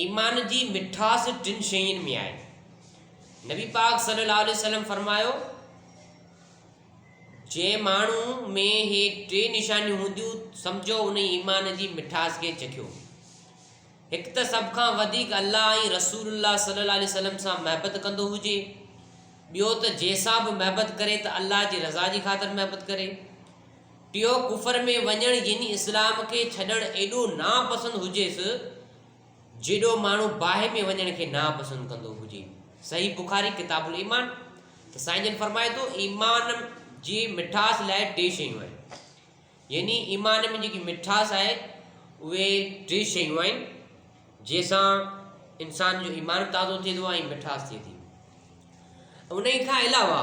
ايمان جي مٺاس ٽن شين ۾ آهي. نبي پاڪ صلي الله عليه وسلم فرمايو، جنهن ماڻهو ۾ هي ٽي نشانيون هونديون سمجهو ان ايمان جي مٺاس کي چکيو. هڪ ته سڀ کان وڌيڪ الله ۽ رسول الله صلي الله عليه وسلم سان محبت ڪندو هجي ٻيو ته جنهن سان به محبت ڪري ته الله جي رضا جي خاطر محبت ڪري ٽيون ڪفر ۾ وڃڻ يعني اسلام کي ڇڏڻ ايڏو ناپسند هجيس جيڏو ماڻهو باهه ۾ وڃڻ کي ناپسند ڪندو هجي. صحيح بخاري ڪتاب الايمان ته سائين جن فرمائي ٿو ايمان جي مٺاس لاء ٽي شيون آهن يعني ايمان ۾ جيڪي مٺاس آهي اهي ٽي شيون آهن جنهن سان انسان جو ايمان تازو ٿئي ٿو ۽ مٺاس ٿئي ٿي ان کان علاوه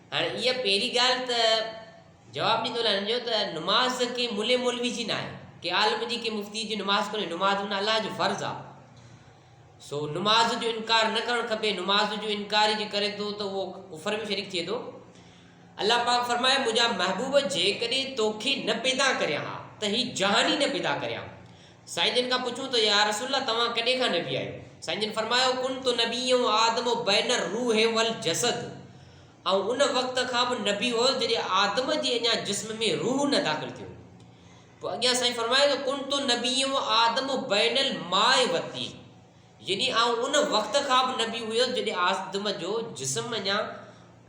هاڻي اها پهرين ڳالهه ته جواب ڏيندو لعنت جو ته نماز ڪنهن ملي مولوي جي ناهي ڪنهن عالم جي ڪنهن مفتي جي نماز ڪونهي نماز ان الله جو فرض آ سو نماز جو انڪار نه ڪرڻ کپي نماز جو انڪار جي ڪري ٿو ته اهو ڪفر ۾ شريڪ ٿئي ٿو الله پاڪ فرمائي منهنجا محبوب جيڪڏهن توکي نه پيدا ڪريان ها ته هي جهان ئي نه پيدا ڪريان سائين جن کان پڇيون ته يا رسول الله توهان ڪڏهن کان نبي آهيو؟ سائين جن فرمايو، ڪنت نبيا و آدم بين الروح و الجسد آئون ان وقت کان به نبي هوس جڏهن آدم جي اڃا جسم ۾ روح نه داخل ٿيو هو. پوء اڳيان سائين فرمايو ته، ڪنت نبيا و آدم بين الماء والطين. يعني آئون ان وقت کان به نبي هيس جڏهن آدم جو جسم اڃا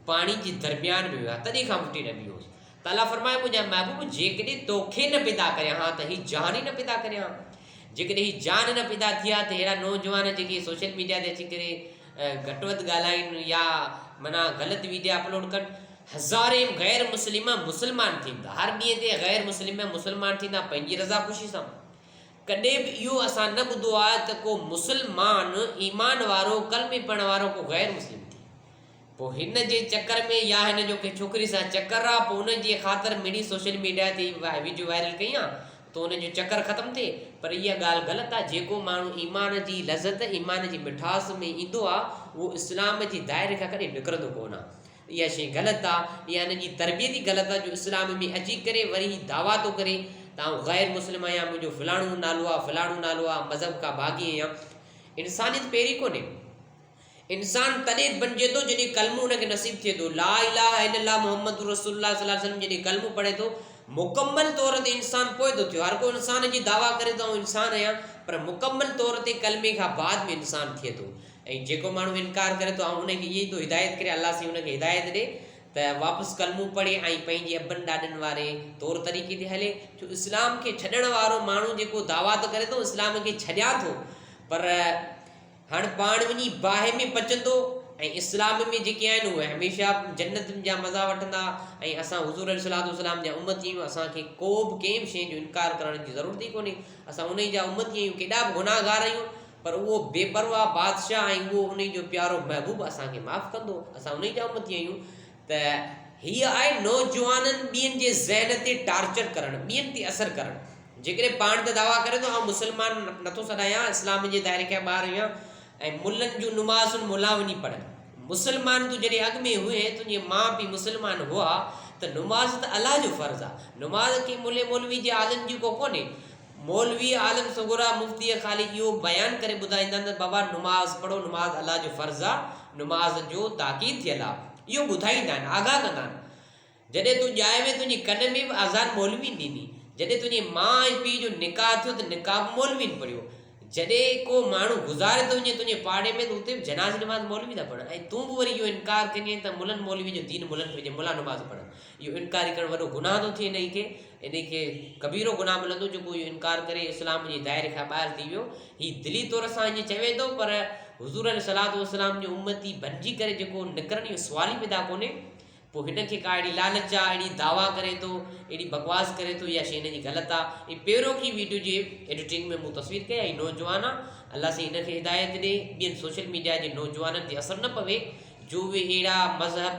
پاڻي جي درميان ۾ هيا تڏهن کان وٺي نبي هيس تعاليٰ فرمايو منهنجا محبوب جيڪڏهن توکي نه پيدا ڪريان ها ته هي جان ئي نه پيدا ڪريان ها جيڪڏهن هي جان نه پيدا ٿي ها ته ههڙا نوجوان جيڪي سوشل ميڊيا تي اچي ڪري گهٽ وڌ ڳالهائين يا معنيٰ غلط ويڊيا اپلوڊ ڪن هزارين غير مسلم مسلمان ٿيندا هر ڏينهن تي غير مسلم مسلمان ٿيندا پنهنجي رضا خوشي سان ڪڏهن به اهو اسان نه ٻڌو آهي ته ڪو مسلمان ايمان وارو ڪلمي پڙهڻ وارو ڪو غير مسلم ٿئي پوء هن جي چڪر ۾ يا هن جو ڪنهن ڇوڪري سان چڪر آ پوء ان جي خاطر مڙئي سوشل ميڊيا تي ويڊيو وائرل ڪئي آ ته ان جو چڪر ختم ٿئي پر اها ڳالهه غلط آ جيڪو ماڻهو ايمان جي لذت ايمان جي مٺاس ۾ ايندو آ اهو اسلام جي دائري کان ڪڏهن نڪرندو ڪونه آ اها شيء غلط آ يا هن جي تربيت ئي غلط آ جو اسلام ۾ اچي ڪري وري هي دعويٰ ٿو ڪري ته آئون غير مسلم آهيان منهنجو فلاڻو نالو آ فلاڻو نالو آ مذهب کان باغي آهيان انسانيت پيري ڪونهي انسان تڏهن بنجي ٿو جڏهن ڪلمو هن کي نصيب ٿئي ٿو لا اله الا الله محمد رسول الله صلي الله عليه وسلم جڏهن ڪلمو پڙهي ٿو مڪمل طور تي انسان پوء ٿو ٿيو هر ڪو انسان جي دعويٰ ڪري ته آئون انسان آهيان پر مڪمل طور تي ڪلمي کان بعد ۾ انسان ٿئي ٿو ۽ جيڪو ماڻهو انڪار ڪري ٿو آئون انهي کي اهي ئي ٿو هدايت ڪريان الله سائين ان کي هدايت ڏي ته واپس ڪلمو پڙهي ۽ پنهنجي ابن ڏاڏن واري طور طريقي تي هلي ڇو اسلام کي ڇڏڻ وارو ماڻهو جيڪو دعويٰ ته ڪري ٿو اسلام کي ڇڏيان ٿو پر هاڻ پاڻ وڃي باهه ۾ پچندو ۽ اسلام ۾ جيڪي آهن اهي هميشه جنت جا مزا وٺندا ۽ اسان حضور عليه صلات وسلام جا امت جي آهيون اسانکي ڪو به ڪنهن به شيء جو انڪار ڪرڻ جي ضرورت ئي ڪونهي اسان انهي جا امت ئي آهيون ڪيڏا به گناهگار آهيون پر اهو بي پرواهه بادشاهه ۽ اهو انهي جو پيارو محبوب اسان کي معاف ڪندو. اسان انهي جا امتي آهيون ته هيء آهي نوجوانن ٻين جي ذهن تي ٽارچر ڪرڻ، ٻين تي اثر ڪرڻ. جيڪڏهن پاڻ ته دعويٰ ڪري ٿو آئون مسلمان نٿو سڏايان، اسلام جي دائري کان ٻاهر آهيان ۽ ملن جون نمازون ملان وڃي پڙهه. مسلمان تون جڏهن اڳ ۾ هئين، تنهنجي ماء پيء مسلمان هئا ته نماز ته الله جو فرض آهي. نماز ڪنهن ملي مولوي جي عالم جي ڪو ڪونهي. مولوي عالم سڳورا مفتيء خالي اهو بيان ڪري ٻڌائيندان ته بابا نماز پڙهو، نماز الله جو فرض آ، نماز جو تاڪيد ٿيل آ. اهو ٻڌائيندا آهن، آگاهه ڪندا آهن. جڏهن تون ڄائي وئين تنهنجي ڪن ۾ به آذان مولوين ڏني. جڏهن تنهنجي ماء ۽ پيء جو نڪاح ٿيو ته نڪاح به مولوين پڙهيو. جڏهن ڪو ماڻهو گذاري ٿو وڃي تنهنجي پاڙي ۾ ته اتي به جنازي نماز مولوي ٿا پڙهن ۽ تون به وري اهو انڪار ڪندي آهين ته ملن مولوين جو دين ملن ٿو هجي، ملا نماز پڙهن. اهو انڪاري ڪرڻ وڏو گناهه ٿو ٿئي انهي کي انهي کي ڪبيرو گناهه ملندو جيڪو اهو انڪار ڪري اسلام جي دائري کان ٻاهر ٿي ويو هي دلي طور سان ائين چوي ٿو پر حضور عليه الصلوۃ والسلام جو امتي بنجي ڪري جيڪو نڪرڻ اهو سوال ئي پيدا ڪونهي پوء هن کي ڪا اهڙي لالچ آ اهڙي دعوا ڪري ٿو اهڙي بڪواس ڪري ٿو اها شي هن جي غلط آ هي پيرو ڪي ويڊيو جي ايڊيٽنگ ۾ مون تصوير ڪئي هي نوجوان آ الله سائين هن کي هدايت ڏي ٻين سوشل ميڊيا جي نوجوانن تي اثر نه پوي جو اهي اهڙا مذهب